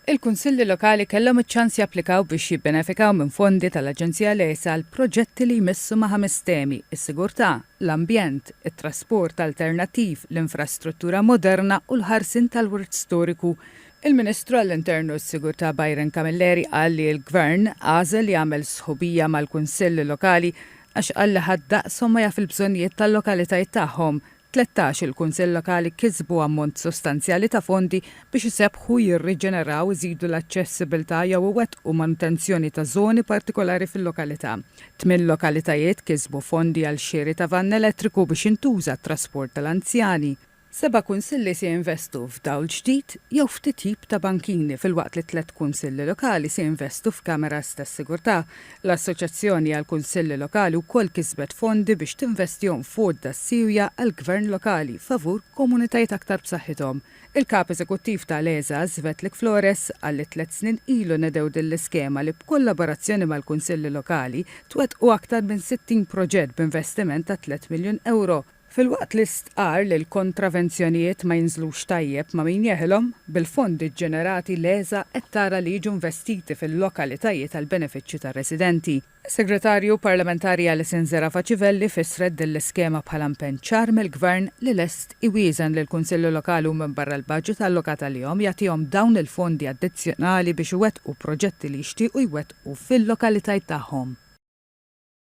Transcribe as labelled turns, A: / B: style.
A: Il-Kunsilli Lokali kellhom iċ-ċans japplikaw biex jibbenefikaw minn fondi tal-Aġenzija LEASE għal proġetti li jmissu ma' ħames temi, is-sigurtà, l-ambjent, it-trasport alternattiv, l-infrastruttura moderna u l-ħarsien tal-wirt storiku. Il-Ministru għall-Intern u s-Sigurtà Byron Camilleri qal li l-Gvern għażel jagħmel sħubija mal-Kunsill Lokali għax qal li ħadd daqshom ma jaf il-bżonnijiet tal-lokalitajiet tagħhom, Tlettax, il-Kunsill Lokali kisbu ammont sostanzjali ta' fondi biex isebbħu, jirriġeneraw, iżidu l-aċċessibbiltà jew iwettqu manutenzjoni ta' żoni partikolari fil-lokalità. Tmien lokalitajiet kisbu fondi għal xiri ta' vann elettriku biex jintuża għat-trasport tal-anzjani. Seba' Kunsilli se jinvestu f'dawl ġdid jew f'titjib ta' bankini filwaqt li tliet Kunsilli Lokali se jinvestu f'kameras tas-sigurtà L-Assoċjazzjoni għall-Kunsilli Lokali wkoll kisbet fondi biex tinvestihom f'għodda siewja għall-gvern lokali favur komunitajiet aktar b'saħħithom. Il-Kap Eżekuttiv ta' l-ESA, Svetlik Flores, qal li tliet snin ilu nedew din l-iskema li b'kollaborazzjoni mal-Kunsilli Lokali twettqu aktar minn 60 proġett b'investiment ta' tliet miljun ewro Filwaqt li stqarr li l-kontravenzjonijiet ma jinżlux tajjeb ma' min jeħilhom, bil-fondi ġġenerati l-ESA qed tara li jiġu investiti fil-lokalitajiet għall-benefiċċju tar-residenti. Is-Segretarju Parlamentari Alison Zerafa Civelli fissret din l-iskema bħala impenn ċar mill-Gvern li lest iwieżen lill-Kunsilli Lokali u minbarra l-baġit allokat għalihom jagħtihom dawn il-fondi addizzjonali biex iwettqu proġetti li jixtiequ jwettqu fil-lokalitajt tagħhom.